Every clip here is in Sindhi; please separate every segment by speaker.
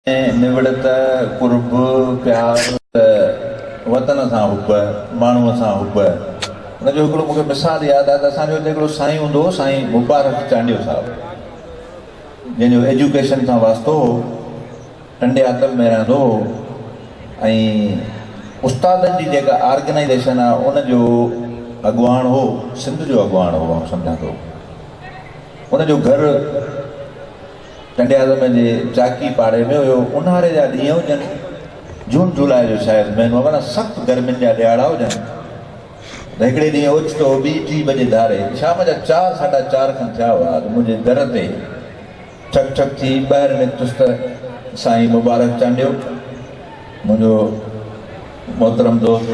Speaker 1: نوڙت، قرب، پيار ته وطن سان حب، ماڻهوء سان حب. ان جو هڪڙو مون کي مثال ياد آهي ته اسان جو هتي هڪڙو سائين هوندو هو سائين مبارڪ چانڊيو صاحب جنهن جو ايجوڪيشن سان واسطو هو ٽنڊياتل ۾ رهندو هو ۽ استادن جي جيڪا آرگنائيزيشن آهي ان جو اڳواڻ هو سنڌ جو اڳواڻ هو آئون سمجهان ٿو ان جو گهر ٽنڊياعظم جي چاڪي پاڙي ۾ هيو. اونهاري جا ڏينهن هجن، جون جولاء جو شايد مهينو هو، اڻا سخت گرمين جا ڏهاڙا هجن ته هڪڙي ڏينهن اوچتو ٻي ٽي بجي ڌاري شام جا چار ساڍا چار کن ٿيا هئا ته منهنجي در تي ٺڪ ٺڪ ٿي ٻاهر نڪتس ته سائين مبارڪ چانڊيو منهنجو محترم دوست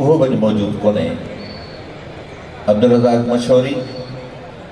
Speaker 1: اهو به اڄ موجود ڪونهي عبدالرزاق مشوري.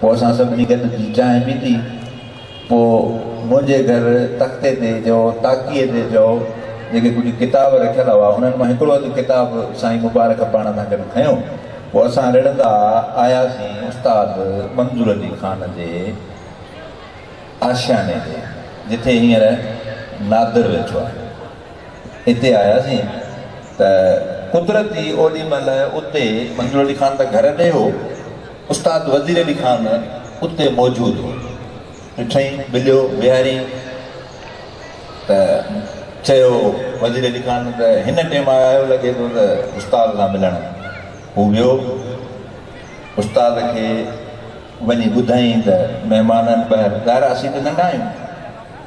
Speaker 1: پوء اسان سڀني گڏ ٿي چانهه پيتي. پوء منهنجي گهر تختي تي جو تاڪيء تي جو جيڪي ڪجهه ڪتاب رکيل هئا، انهن مان هڪڙو اڌ ڪتاب سائين مبارڪ پاڻ سان گڏ کنيو. پوء اسان رڙندا آياسين استاد منظور علي خان جي آشياني ڏي، جتي هينئر نادر ويٺو آهي. اتي آياسين ته قدرتي اوڏي مهل اتي منظور علي خان ته گهر ڏي هو، استاد وزير علي خان اتي موجود هو. ڏٺئين، مليو، ويهاريائين ته چيو، وزير علي خان ته هن ٽيم آيو لڳي ٿو ته استاد سان ملڻ. هو ويو، استاد کي وڃي ٻڌائين ته مهمانن ٻهر، ظاهر آهي اسين ته ننڍا آهيون،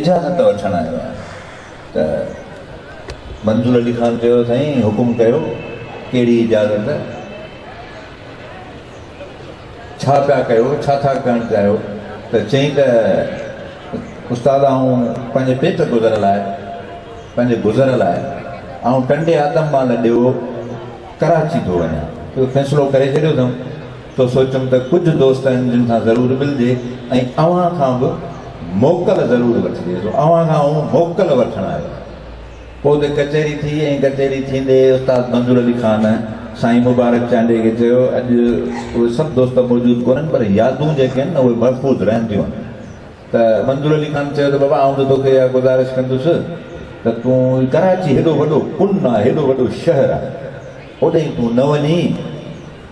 Speaker 1: اجازت وٺڻ آيو آهيان ته منظور علي خان چيو سائين حڪم ڪيو ڪهڙي اجازت ڇا پيا ڪيو ڇا ٿا ڪرڻ چاهيو ته چئين ته استاد آئون پنهنجي پيٽ گذر لاء پنهنجي گذر لاء آئون ٽنڊي آدم مال ڏيو ڪراچي ٿو وڃان اهو فيصلو ڪري ڇڏيو اٿم ٿو سوچيم ته ڪجهه دوست آهن جن سان ضرور ملجي ۽ اوهان کان به موڪل ضرور وٺجي. سو اوهان کان آئون موڪل وٺڻ آيو آهيان. پوء اتي ڪچهري ٿي ۽ ڪچهري ٿيندي استاد منظور علي خان سائين مبارڪ چانڊيي کي چيو اڄ اهي سڀ دوست موجود ڪونهن پر يادون جيڪي آهن نه اهي محفوظ رهنديون ته منظور علي خان چيو ته بابا آئون ته توکي اها گذارش ڪندس ته تون هي ڪراچي هيڏو وڏو ڪن آهي هيڏو وڏو شهر آهي اوڏهين تون نه وڃين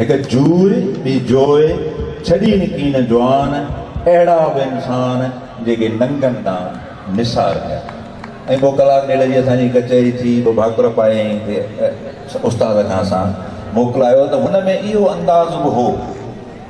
Speaker 1: هڪ جوء ٻي جوء ڇڏي نڪين جوان اهڙا به انسان جيڪي ننگن ڏانهن نثار ڪيا ۽ پوء ڪلاڪ ڏيڍ جي اسان جي ڪچهري ٿي پوء ڀاڪر پائي استاد کان اسان موڪلايو ته هن ۾ اهو انداز به هو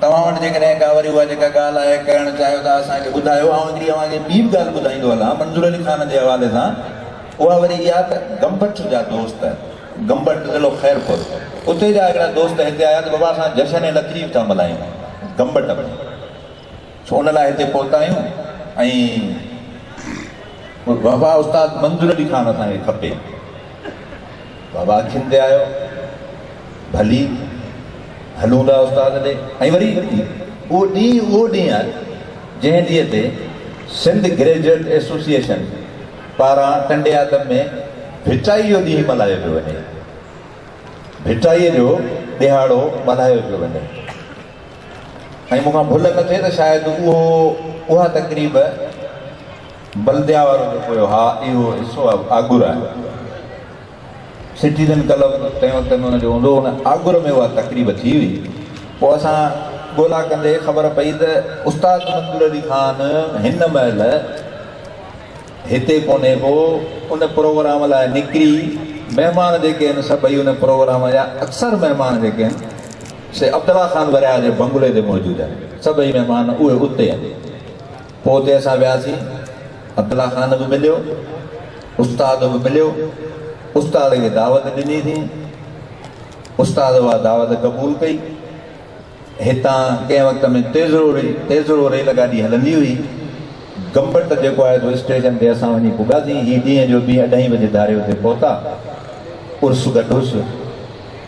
Speaker 1: توهان وٽ جيڪڏهن ڪا وري اها جيڪا ڳالهه آهي ڪرڻ چاهيو ته اسان کي ٻڌايو آئون هڪڙي اوهان کي ٻي به ڳالهه ٻڌائيندو هلان منظور علي خان جي حوالي سان اها وري اها ته گمبٽ جا دوست گمبٽ ضلعو خيرپور اتي جا هڪڙا دوست هتي آيا ته بابا اسان جشن لطيف ٿا ملهايون گمبٽ ۾ سو ان لاء هتي پهتا آهيون ۽ بابا استاد منظور علي خان اسان کي کپي. بابا اکين تي آيو، ڀلي هلون ٿا استاد ڏي ۽ وري اهو ڏينهن اهو ڏينهن آهي جنهن ڏينهن تي سنڌ گريجوئيٽ ايسوسيئيشن پاران ٽنڊي آدم ۾ ڀٽائي جو ڏينهن ملهايو پيو وڃي. ڀٽائي جو ڏهاڙو ملهايو پيو وڃي. ۽ مون کان ڀل نه ٿئي ته شايد اهو اها تقريب بلديا وارو جيڪو هيو ها اهو حصو آگور آهي سٽيزن ڪلب تنهن وقت ۾ ان جو هوندو ان آگور ۾ اها تقريب ٿي هئي پوء اسان ڳولا ڪندي خبر پئي ته استاد منظور علي خان هن مهل هتي ڪونهي پوء ان پروگرام لاء نڪري مهمان جيڪي آهن سڀئي ان پروگرام جا اڪثر مهمان جيڪي آهن سي عبدالله خان ورياهه جي بنگلي تي موجود آهي. سڀئي مهمان اهي اتي آهن. پوء اتي اسان وياسين. عبدالله خان به مليو. استاد به مليو. استاد کي دعوت ڏني اٿيئن. استاد اها دعوت قبول ڪئي. هتان ڪنهن وقت ۾ تيزرو ري تيزرو ريل گاڏي هلندي هئي. گمبٽ جيڪو آهي سو اسٽيشن تي اسان وڃي پڳاسين. هي ڏينهن جو ٻي اڍائي بجي ڌاري اتي پهتا. عرس گڏ هوس.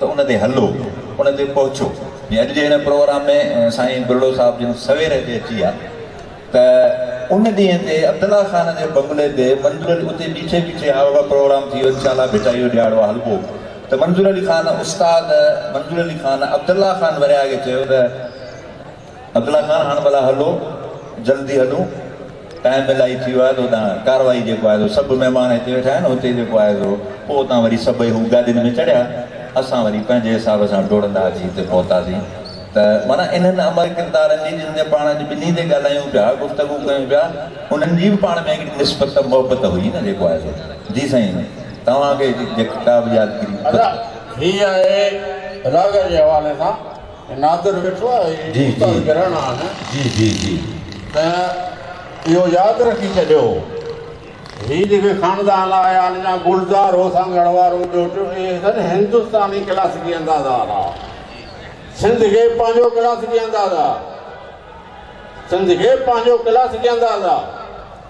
Speaker 1: ته ان تي هلو، ان تي پهچو. جي اڄ جي هن پروگرام ۾ سائين ٻرڙو صاحب جن سوير هتي اچي ويا ته ان ڏينهن تي عبدالله خان جي بنگلي تي منظور علي اتي بيٺي بيٺي ها بابا پروگرام ٿي ويو انشاء الله ڀٽائي جو ڏيهاڙو آ هلبو ته منظور علي خان استاد منظور علي خان عبدالله خان ورياهه کي چيو ته عبدالله خان هاڻ ڀلا هلو جلدي هلون ٽائيم الائي ٿي ويو آهي ته هتان ڪارروائي جيڪو آهي سو سڀ مهمان هتي ويٺا آهن هتي جيڪو آهي سو پوء اتان وري سڀئي هو گاڏين ۾ چڙهيا اسان وري پنهنجي حساب سان ڊوڙندا اچي هتي پهتاسين ته معنيٰ انهن امر ڪردارن جي جن جي پاڻ اڄ ٻنهي تي ڳالهايون پيا گفتگو ڪيون پيا انهن جي به پاڻ ۾ هڪڙي نسبت ته محبت هئي نه جيڪو آهي سو جي سائين توهان کي جيڪا به يادگيري ادا هي
Speaker 2: آهي راڳ جي حوالي سان. نادر ويٺو آهي استاد گرهنان
Speaker 1: ته
Speaker 2: اهو ياد رکي ڇڏيو هي جيڪي خاندان آهي هان جا گلزار هو سانگهڙ وارو ٻيو ٽيون اهي سن هندستاني ڪلاسيڪي انداز وارا سنڌ کي پنهنجو ڪلاسيڪي انداز آ سنڌ کي پنهنجو ڪلاسيڪي انداز آ.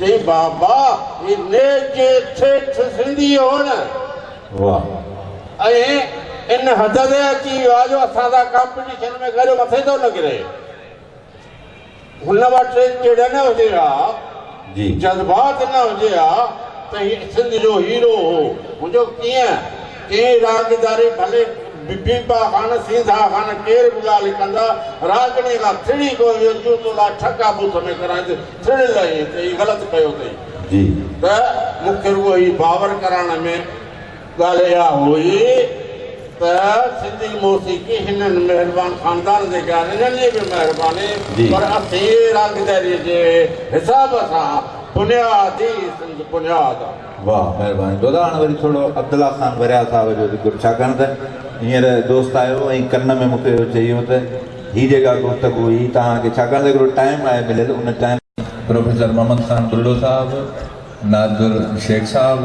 Speaker 2: چئي بابا هي نيجي ٺيٺ سنڌي هو نه.
Speaker 1: واهه ائين
Speaker 2: ان حد تي اچي ويو آهي جو اسان سان ڪامپيٽيشن ۾ گڏ مٿي ٿو نڪري. هن وٽ چڙ نه هجي ها،
Speaker 1: جذبات نه
Speaker 2: هجي ها ته هي سنڌ جو هيرو هو. منهنجو ڪيئن؟ ڪئين راڳداري ڀلي بيبا خان، سينڌا خان ڪير به ڳالهه ڪندا، راڳڻي کان ٿڙي ڪوئي ويو جون تو لاء ٺڪا بوٿ ۾ ڪرائيندس پڻ لهي ته هي غلط ڪيو اٿئي ته مون کي روح هي باور ڪرائڻ ۾ ڳالهه اها هئي ته سنڌي موسيقي هنن مهربان خاندان جي غير انهن جي به مهرباني پر اٿيئي راڳداري جي حساب سان بنياد ئي سنڌ بنياد آ. واه مهرباني
Speaker 1: دودا هاڻي وري ٿورو عبدالله خان وريال صاحب جو ذڪر ڇاڪاڻ ته هينئر دوست آيو ۽ ڪن ۾ مون کي اهو چيو ته هي جيڪا گفتگو هئي توهان کي ڇاڪاڻ ته هڪڙو ٽائيم آهي مليل ان ٽائيم پروفيسر محمد خان بلڙو صاحب، ناظر شيخ صاحب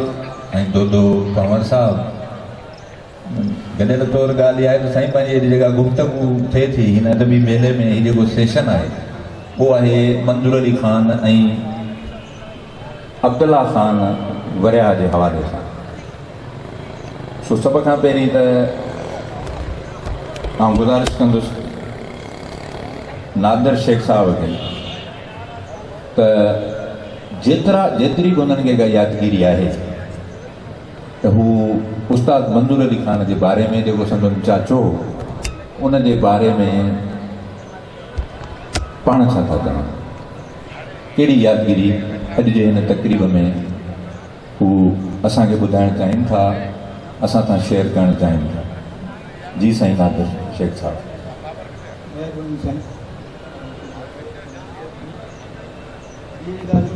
Speaker 1: ۽ دودو پنهور صاحب. گڏيل طور ڳالهه اها آهي ته سائين پنهنجي هيڏي جيڪا گفتگو ٿئي ٿي هن ادبي ميلي ۾ هي جيڪو سيشن آهي اهو آهي منظور علي خان ۽ عبدالله خان ورياهه جي حوالي سان سو سڀ کان پهرين ته آئون گذارش ڪندس نادر شيخ صاحب کي ته جيترا جيتري به هنن کي ڪا يادگيري آهي ته هو استاد منظور علي خان جي باري ۾ جيڪو سندن چاچو هو ان جي باري ۾ پاڻ ڇا ٿا چون ڪهڙي يادگيري اڄ جي هن تقريب ۾ هو اسان کي ٻڌائڻ چاهين ٿا اسان سان شيئر ڪرڻ چاهين ٿا جي سائين نادر شيخ صاحب ڏاڍي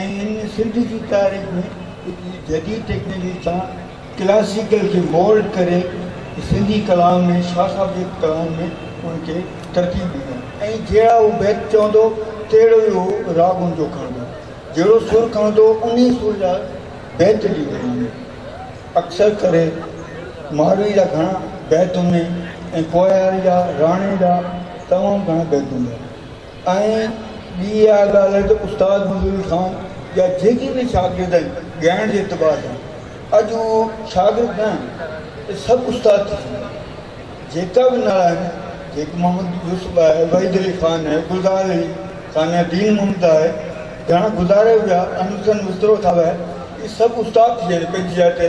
Speaker 3: ائين سنڌ جي تاريخ ۾ هڪ جديد ٽيڪنالوجي سان ڪلاسيڪل کي مولڊ ڪري سنڌي ڪلام ۾ شاهه صاحب جي ڪلام ۾ ان کي ترتيب ڏنو ۽ جهڙا هو بيت چوندو تهڙو ئي هو راڳ ان جو کڻندو جهڙو سر کڻندو انهي سر جا بيت ڏيندو وڃي اڪثر ڪري ماروي جا گهڻا بيت هوندي ۽ ڪوهيار جا راڻي جا تمام گهڻا بيت هوندا ۽ ٻي اها ڳالهه ته استاد منظور خان جا جيڪي به شاگرد آهن ڳائڻ جي اعتبار سان اڄ اهو شاگرد نه آهن ته سڀ استاد ٿي چڪا آهن جيڪا به نالا آهن جيڪي محمد يوسف آهي وحيد علي خان آهي گلزار علي خان آهي دين محمد آهي گهڻا گذاري ويا انور حسين وسطرو صاحب آهي اهي سڀ استاد ٿي ويا آهن پنهنجي جاء تي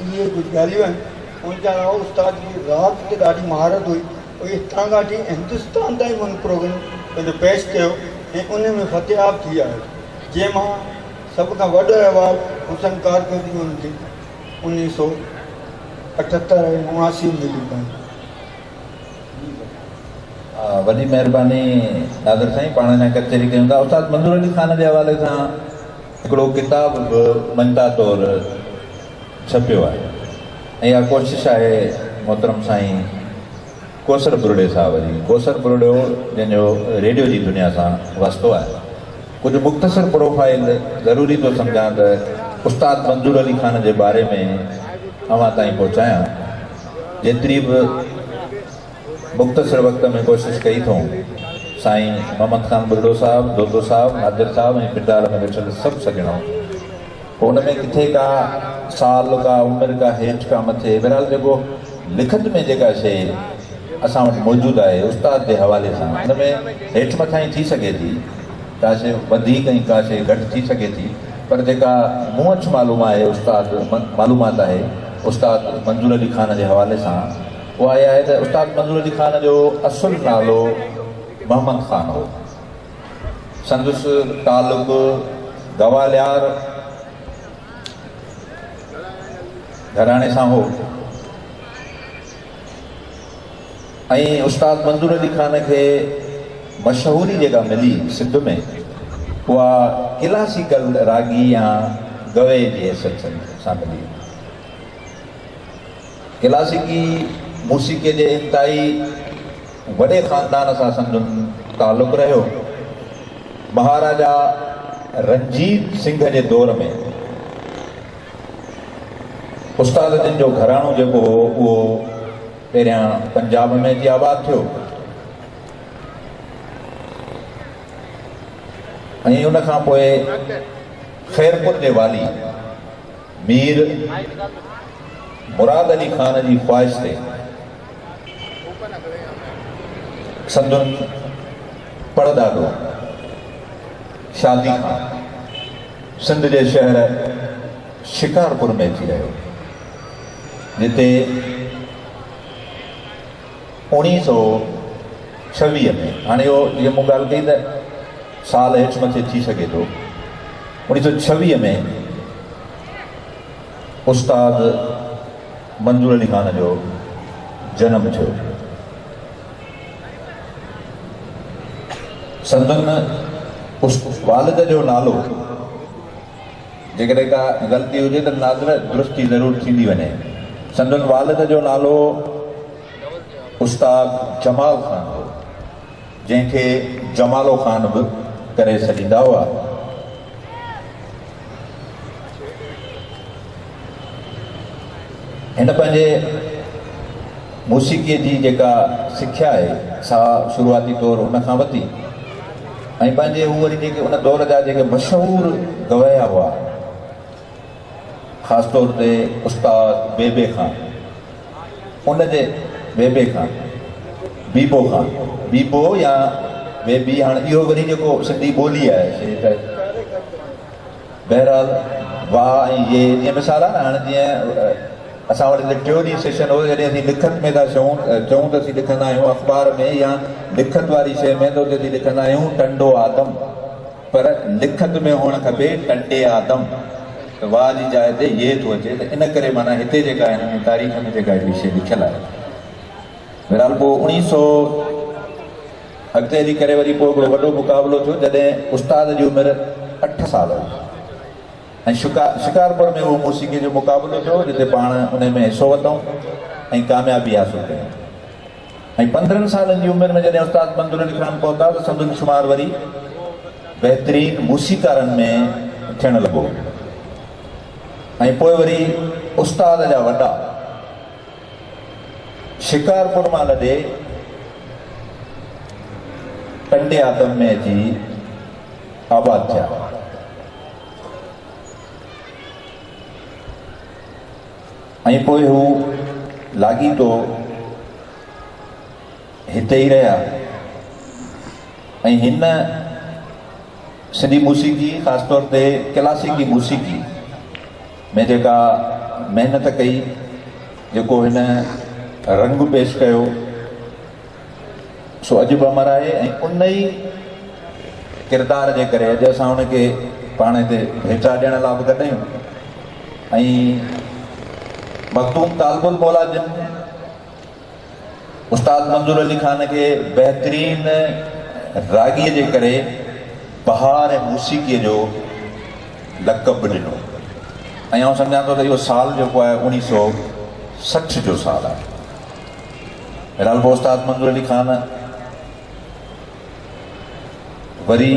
Speaker 1: اهي ڪجهه ڳالهيون
Speaker 3: آهن ان جي علاوه استاد جي راڳ تي ڏاڍي مهارت هئي هو هتان کان وٺي هندستان تائين هن پروگرام پنهنجو پيش ڪيو ۽ ان ۾ فتحياب ٿي آيو جنهن مان سڀ کان وڏو ايوارڊ حسن ڪارڪردگي ان کي انيس سو اٺهتر ۽ اڻاسي ۾ مليو ڪنهن
Speaker 1: وڏي مهرباني ناظر سائين پاڻ اڃا ڪچهري ڪيون ٿا استاد منظور علي خان جي حوالي سان هڪڙو ڪتاب به مڃتا طور ڇپيو آهي ۽ اها ڪوشش آهي محترم سائين ڪوثر ٻرڙي صاحب جي، ڪوثر ٻرڙو جنهن جو ريڊيو جي دنيا سان واسطو آهي. ڪجهه مختصر پروفائيل ضروري ٿو سمجهان ته استاد منظور علي خان جي باري ۾ اوهان تائين پهچايان جيتري به مختصر وقت ۾ ڪوشش ڪئي ٿئون سائين محمد خان ٻرڙو صاحب، دودو صاحب، نادر صاحب ۽ پنڊار ۾ ويٺل سڀ سڄڻو ڪو ان ۾ ڪٿي ڪا سال ڪا عمر ڪا هيٺ ڪا مٿي بهرحال جيڪو لکت ۾ جيڪا شيء اسان وٽ موجود آهي استاد جي حوالي سان ان ۾ هيٺ مٿانهين ٿي سگهي ٿي ڪا شيء وڌيڪ ۽ ڪا شيء گهٽ ٿي سگهي ٿي پر جيڪا مون وٽ معلوم آهي استاد معلومات آهي استاد منظور علي خان جي حوالي سان اها اها آهي ته استاد منظور علي خان جو اصل نالو محمد خان هو. سندس تعلق گواليار گهراڻي سان هو ۽ استاد منظور علي خان کي مشهوري جيڪا ملي سنڌ ۾ اها ڪلاسيڪل راڳي يا گويء جي حيثيت سان ملي. ڪلاسيڪي موسيقيء جي انتهائي وڏي خاندان سان سندن تعلق رهيو. مهاراجا رنجيت سنگهه جي دور ۾ استاد جن جو گهراڻو جيڪو هو اهو پهريان پنجاب ۾ اچي آباد ٿيو ۽ ان کان پوء خيرپور جي والي مير مراد علي خان جي خواهش تي سندن پڙڏاڏو شادي خان سنڌ جي شهر شڪارپور ۾ اچي رهيو جتي اوڻيهه سؤ ڇويهه ۾ هاڻي اهو جيئن مون ڳالهه ڪئي ته سال هيٺ مٿي ٿي سگهي ٿو اوڻيهه سؤ ڇويهه ۾ استاد منظور علي خان جو جنم ٿيو سندن والد جو نالو جيڪڏهن ڪا غلطي هجي ته ناظره درستي ضرور ٿيندي وڃي سندن والد جو نالو استاد جمال خان هو، جنهن کي جمالو خان به ڪري سڏيندا هئا. هن پنهنجي موسيقيء جي جيڪا سکيا آهي، سا شروعاتي طور هن کان ورتي ۽ پنهنجي هو وري جيڪي ان دور جا جيڪي مشهور گويا هئا، خاص طور تي استاد بيبي خان ان جي بيبي خان بيبو خان بيبو يا بيبي هاڻ اهو وري جيڪو سنڌي ٻولي آهي سي ته بهرحال وا ۽ يي جي مثال آهي نه هاڻ جيئن اسان وٽ هتي ٽيو ڏينهن سيشن هو جڏهن اسين لکت ۾ ٿا چون چون ته اسين لکندا آهيون اخبار ۾ يا لکت واري شيء ۾ ته اتي اسين لکندا آهيون ٽنڊو آدم پر لکت ۾ هئڻ کپي ٽنڊي آدم ته واء جي جاء تي يي ٿو اچي ته ان ڪري معنيٰ هتي جيڪا هن ۾ تاريخ ۾ جيڪا هڪڙي شيء لکيل آهي بهرحال پوء اوڻيهه سؤ اڳتي هلي ڪري وري پوء هڪڙو وڏو مقابلو ٿيو جڏهن استاد جي عمر اٺ سال هئي ۽ شڪا شڪارپور ۾ اهو موسيقي جو مقابلو ٿيو جتي پاڻ انهي ۾ حصو ورتائون ۽ ڪاميابي حاصل ڪيائون. ۽ پندرهن سالن جي عمر ۾ جڏهن استاد بندر علي خان پهتا ته سندن شمار وري بهترين موسيقارن ۾ ٿيڻ لڳو ۽ پوء وري استاد جا وڏا شڪارپور مان لڏي ٽنڊي آدم ۾ اچي آباد ٿيا. ۽ پوء هو لاڳيتو هتي ئي رهيا ۽ هن سنڌي موسيقي خاص طور تي ڪلاسيڪي موسيقي ۾ جيڪا محنت ڪئي جيڪو هن رنگ پيش ڪيو سو اڄ به امر آهي ۽ ان ئي ڪردار جي ڪري اڄ اسان ان کي پاڻ هتي ڀيٽا ڏيڻ لاء به گڏ آهيون ۽ مخدوم طالب المولا جن استاد منظور علي خان کي بهترين راڳي جي ڪري بهار ۽ موسيقي جو لقب به ڏنو ۽ آئون سمجهان ٿو ته اهو سال جيڪو آهي اوڻيهه سو سٺ جو سال آهي رلبو استاد منظور علي خان وري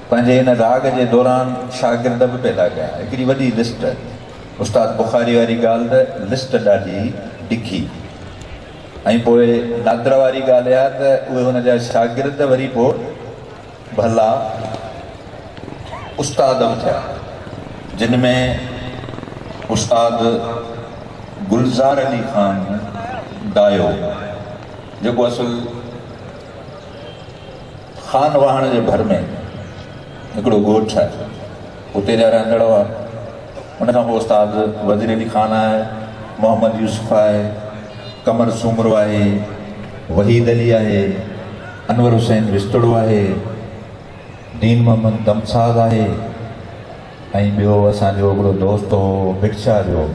Speaker 1: پنهنجي ان راڳ جي دوران شاگرد به پيدا ڪيا هڪڙي وڏي لسٽ استاد بخاري واري ڳالهه ته لسٽ ڏاڍي ڊگهي ۽ پوء نادر واري ڳالهه اها ته اهي هن جا شاگرد وري پوء ڀلا استاد به ٿيا جن ۾ استاد گلزار علي خان دايو جيڪو اصل خان واهڻ جي ڀر ۾ هڪڙو ڳوٺ آهي. اتي جا رهندڙ هئا. ان کان پوء استاد وزير علي خان آهي، محمد يوسف آهي، قمر سومرو آهي، وحيد علي آهي، انور حسين وستوڙو آهي، دين محمد دمساز آهي ۽ ٻيو اسان جو هڪڙو دوست هو ڀٽ شاهه جو.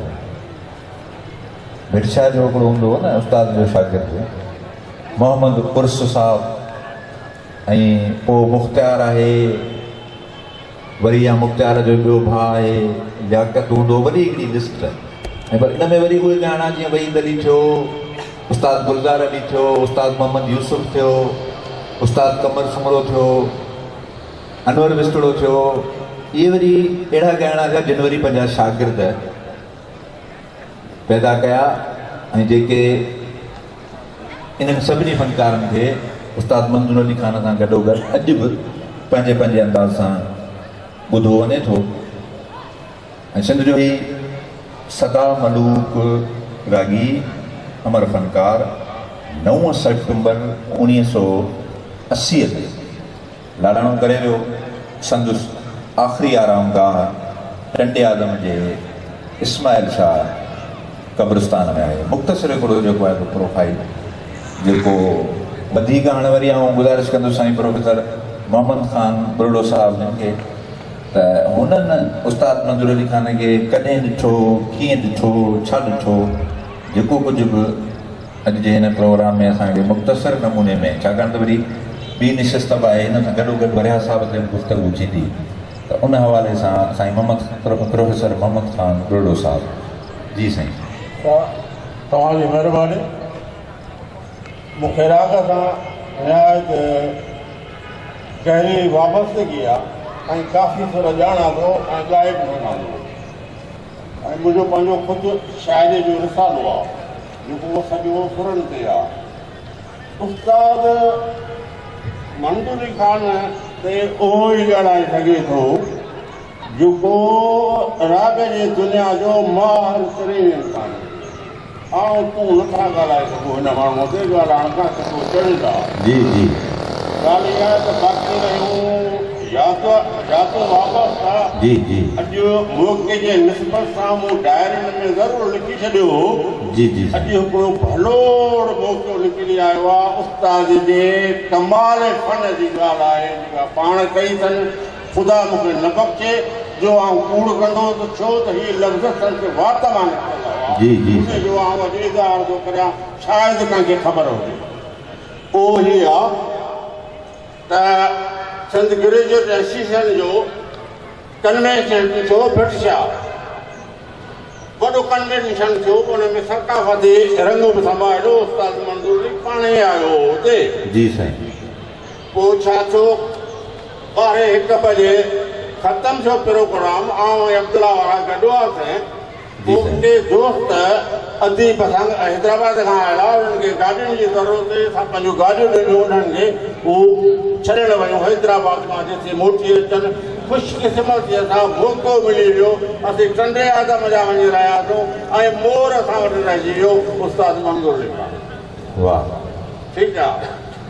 Speaker 1: ڀٽ شاهه جو هڪڙو هوندو هو نه استاد جو شاگرد محمد عرس صاحب ۽ پوء مختيار آهي. وري يا مختيار جو ٻيو ڀاء آهي لياقت هوندو وڏي هڪڙي لسٽ ۽ پر ان ۾ وري اهي ڳائڻا جيئن وحيد علي ٿيو استاد گلزار علي ٿيو استاد محمد يوسف ٿيو استاد قمر سومرو ٿيو انور وسٽڙو ٿيو اهي وري اهڙا ڳائڻا ٿيا جن وري پنهنجا شاگرد پيدا ڪيا ۽ جيڪي انهن سڀني فنڪارن کي استاد منظور علي خان سان گڏوگڏ اڄ به پنهنجي پنهنجي انداز سان ٻڌو وڃي ٿو ۽ سنڌ جو هي سدا ملوڪ راڳي امر فنڪار نو سيپٽمبر اوڻيهه سؤ اسي تي لاڙاڻو ڪري ويو. سندس آخري آرام گاهه ٽنڊياعظم جي اسماعيل شاهه قبرستان ۾ آهي. مختصر هڪڙو جيڪو آهي سو پروفائيل جيڪو وڌيڪ هاڻي وري آئون گذارش ڪندس سائين پروفيسر محمد خان ٻرڙو صاحب جن کي ته هنن استاد منظور علي خان کي ڪڏهن ڏٺو، ڪيئن ڏٺو، ڇا ڏٺو جيڪو ڪجهه به. اڄ جي هن پروگرام ۾ اسان کي مختصر نموني ۾ ڇاڪاڻ ته وري ٻي نشست به آهي ان سان گڏوگڏ ورياهه صاحب تي به گفتگو ٿيندي ته ان حوالي سان سائين محمد پروفيسر محمد خان ڏوهيڙو صاحب جي سائين.
Speaker 2: توهان جي مهرباني مون کي راڳ سان نهايت گهري وابستگي آهي ۽ ڪافي سر ڄاڻان ٿو ۽ ڳائي به سگهان ٿو ۽ منهنجو پنهنجو خود شاعري جو رسالو آهي. رڳو سڄو سرن تي آ. استاد منظوري خان تي اهو ئي ڄاڻائي سگهي ٿو جيڪو راڳ جي دنيا جو ماهر ترين انسان هجي. آئون تون نه ٿا ڳالهائي سگهون هن ماڻهوء تي ڳالهائڻ کان سڌو چڙيل آ. جي جي.
Speaker 1: ڳالهه
Speaker 2: اها ته باقي رهيون. جاتون واپس ٿا اڄ
Speaker 1: موقعي
Speaker 2: جي نسبت سان مون ڊائرين ۾ ضرور لکي ڇڏيو هو اڄ هڪڙو ڀلوڙ موقعو نڪري آيو آ استاد جي ڪمال فن جي ڳالهه آهي جيڪا پاڻ ڪئي اٿن خدا مون کي نه بخشي جو آئون ڪوڙ ڪندو ته ڇو ته هي لفظ سندس وات مان نڪتل هئا ان جو آئون اڄ اظهار ٿو ڪريان شايد ڪنهن کي خبر هجي اهو هي آ ته سنڌ گريجوئيٽ ايسوسيئيشن جو ڪنوينشن ٿيو ڀٽ شاهه وڏو ڪنوينشن ٿيو ان ۾ ثقافتي رنگ به سمايو استاد منظور علي پاڻ ئي آيو هو اتي جي سائين پوء ڇا ٿيو ٻارهين هڪ بجي ختم ٿيو پروگرام آئون ۽ عبدالله وارا گڏ هئاسين جي سائين. ڪي دوست ادي پسند حيدرآباد کان آيا انهن کي گاڏين جي ضرورت هئي اسان پنهنجون گاڏيون ڏنيون انهن کي هو ڇڏڻ ويون حيدرآباد مان جيسين موٽي اچن خوش قسمتي سان موقعو ملي ويو اسين ٽنڊي آدم جا وڃي رهياسون ۽ مور اسان وٽ رهجي ويو استاد منظور لکا. واه. ٺيڪ آ.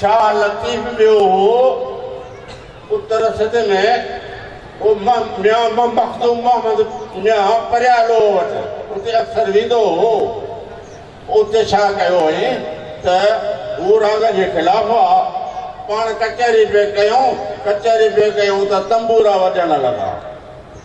Speaker 2: شاهه لطيف ٻيو هو پٽ رسد ۾ هو ميان مخدوم محمد ميان پريالو وٽ اتي اڪثر ويندو هو اتي ڇا ڪيو هئائين ته هو راڳ جي خلاف هئا پاڻ ڪچهري پئي ڪيون ڪچهري پئي ڪيون ته تنبورا وڄڻ لڳا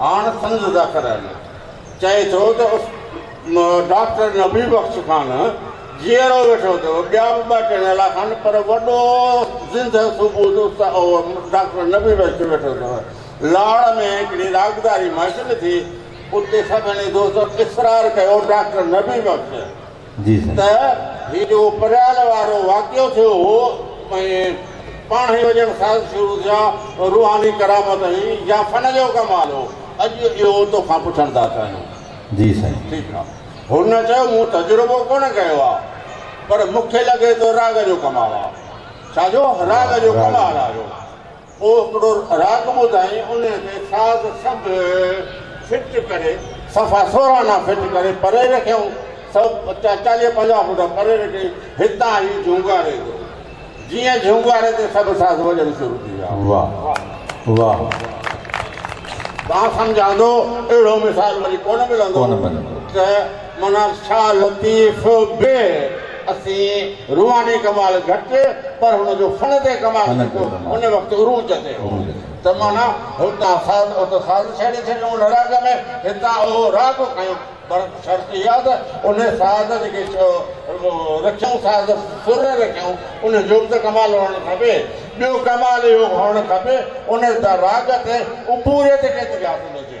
Speaker 2: هاڻ سندس ادا ڪرائيندو. چئي ٿو ته اس ڊاڪٽر نبي بخش خان جيئرو ويٺو ٿو، ٻيا به ٻه ٽي نالا کن پر وڏو زندهه ثبوت اس ڊاڪٽر نبي بخش ويٺو اٿو. لاڙ ۾ هڪڙي راڳداري محفل ٿي، اتي سڀني دوستن اصرار ڪيو ڊاڪٽر نبي بخش. ته هي جيڪو پريال وارو واقعو ٿيو هو ۽ پاڻهي وڄڻ ساز شروع ٿيا اهو روحاني ڪرامت هئي يا فن جو ڪمال هو اڄ اهو توکان پڇڻ ٿا چاهيون. جي سائين. ٺيڪ آ. هن چيو مون تجربو ڪونه ڪيو آ پر مونکي لڳي ٿو راڳ جو ڪمال آ. ڇا جو؟ راڳ جو ڪمال آ اهو. پوء هڪڙو راڳ ٻڌائين انهيء کي ساز سنڌ فٽ ڪري صفا سورهن آنا فٽ ڪري پري رکيائون سؤ چاليهه پنجاهه فوٽ پري رکي هتان هي جهونگاري جو جيئن جهونگاري تي سڀ ساز وڄڻ شروع ٿي ويا واهه واهه مان سمجهان ٿو اهڙو مثال وري ڪونه ملندو ته معنيٰ شاهه لطيف به اسين روحاني ڪمال گهٽ پر هن جو فن تي ڪمال ڏٺو ان وقت عروج تي هو ته معنيٰ هتان ساز اتي ساز ڇيڙي ڇڏيو ان راڳ ۾ هتان اهو راڳ کنيو پر شرط اها ته ان ساز جيڪي رکيائون ساز سر رکيائون ان جو به ته ڪمال هئڻ کپي ٻيو ڪمال اهو هئڻ کپي ان راڳ تي عبوريت ڪيتري حاصل هجي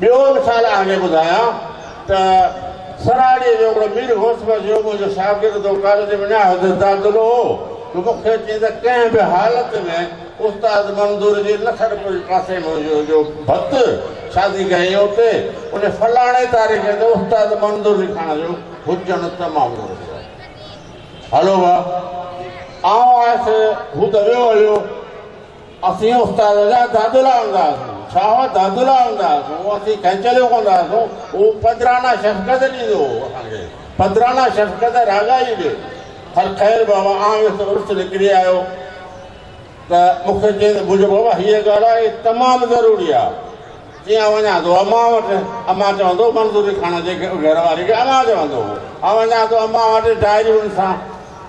Speaker 2: ٻيو مثال آء هني ٻڌايان ته سراڙيء جو هڪڙو مير غوث بخش يوڳو جو شاگرد هو، ڪاليج ۾ نهايت حد تعطلو هو، جو مون کي چيائين ته ڪنهن به حالت ۾ استاد منظور جي لکڻ پور جي پاسي ۾ هجي جو ڀت شادي ڪيائين اتي ان فلاڻي تاريخ تي استاد منظور لکاڻ جو هجڻ تمام ضروري آهي. هلو ڀا آئون آيس هو ته ويو هليو. اسين استاد جا دادلا هوندا هئاسون، ڇا هئا دادلا هوندا هئاسون، اسين کينچليون ڪندا هئاسون، هو پدرانه شفقت ڏيندو هو اسان کي، پدرانه شفقت راڳائي به. هل خير بابا آئون ويس عرس نڪري آيو ته مون کي چيائين ته بجو بابا هيء ڳالهه آهي تمام ضروري آهي، جي آئون وڃان ٿو امان وٽ، امان چوندو منظوري خان جي گهر واري کي امان چوندو هو، آئون وڃان ٿو امان وٽ ڊائريون ڏسان،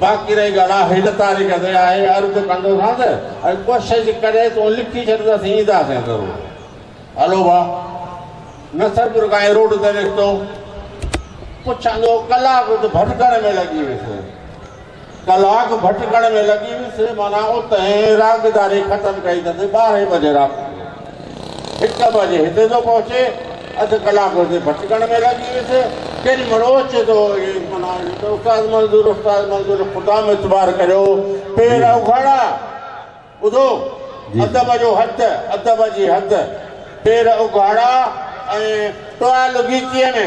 Speaker 2: باقي رهي ڳالهه آ هن تاريخ تي آء عرض ڪندوسانس ۽ ڪوشش ڪري تون لکي ڇڏ ته اسين اينداسين ضرور. هلو ڀا. نصرپور کان هي روڊ تي نڪتو. پڇندو ڪلاڪ اٿ ڀٽڪڻ ۾ لڳي ويس. ڪلاڪ ڀٽڪڻ ۾ لڳي ويس معنيٰ اتهين راڳداري ختم ڪئي اٿس ٻارهين بجي رات جو. هڪ بجي هتي ٿو پهچي، اڌ ڪلاڪ هتي ڀٽڪڻ ۾ لڳي ويس. ڪيڏي مهل اوچتو هو اهي معنيٰ اهي ته استاد منظور، استاد منظور، خدا ۾ اعتبار ڪريو، پير اگهاڙا، ٻڌو، ادب جو هٿ، ادب جي هٿ، پير اگهاڙا ۽ ٽوال ڳيچيء ۾.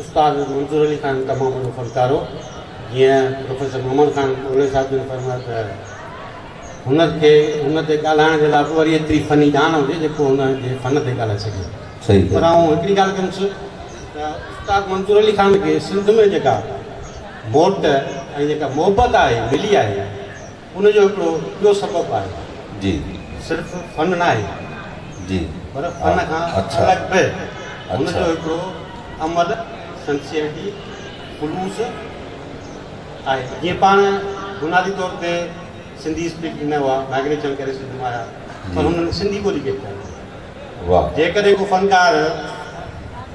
Speaker 4: استاد منظور علي خان تمام وڏو فنڪار هو. جيئن پروفيسر محمد خان اولهي صاحب جن فرمايو ته هن کي هن تي ڳالهائڻ جي لاء به وري ايتري فني ڄاڻ هجي جيڪو هن جي فن تي ڳالهائي سگهي. پر آئون
Speaker 1: هڪڙي ڳالهه
Speaker 4: ڪندس ته استاد منظور علي خان کي سنڌ ۾ جيڪا موٽ ۽ جيڪا محبت آهي ملي آهي، ان جو هڪڙو ٻيو سبب آهي. جي. صرف
Speaker 1: فن
Speaker 4: ناهي. جي. پر فن
Speaker 1: کان
Speaker 4: الڳ به هن جو هڪڙو عمل، سنسيئرٽي، خلوص، آهي. جيئن پاڻ بنيادي طور تي سنڌي اسپيڪنگ نه هئا، مائگريشن ڪري سنڌ مان آيا، پر هنن سنڌي ٻولي ڪيڏي ڪونه ٻڌي. جيڪڏهن ڪو
Speaker 1: فنڪار.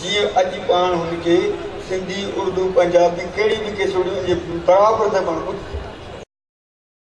Speaker 3: جيئن اڄ پاڻ هن کي سنڌي، اردو، پنجابي ڪهڙي به ڪيسوڙي هجي برابر ته پاڻ ٻڌ سگهون ٿا.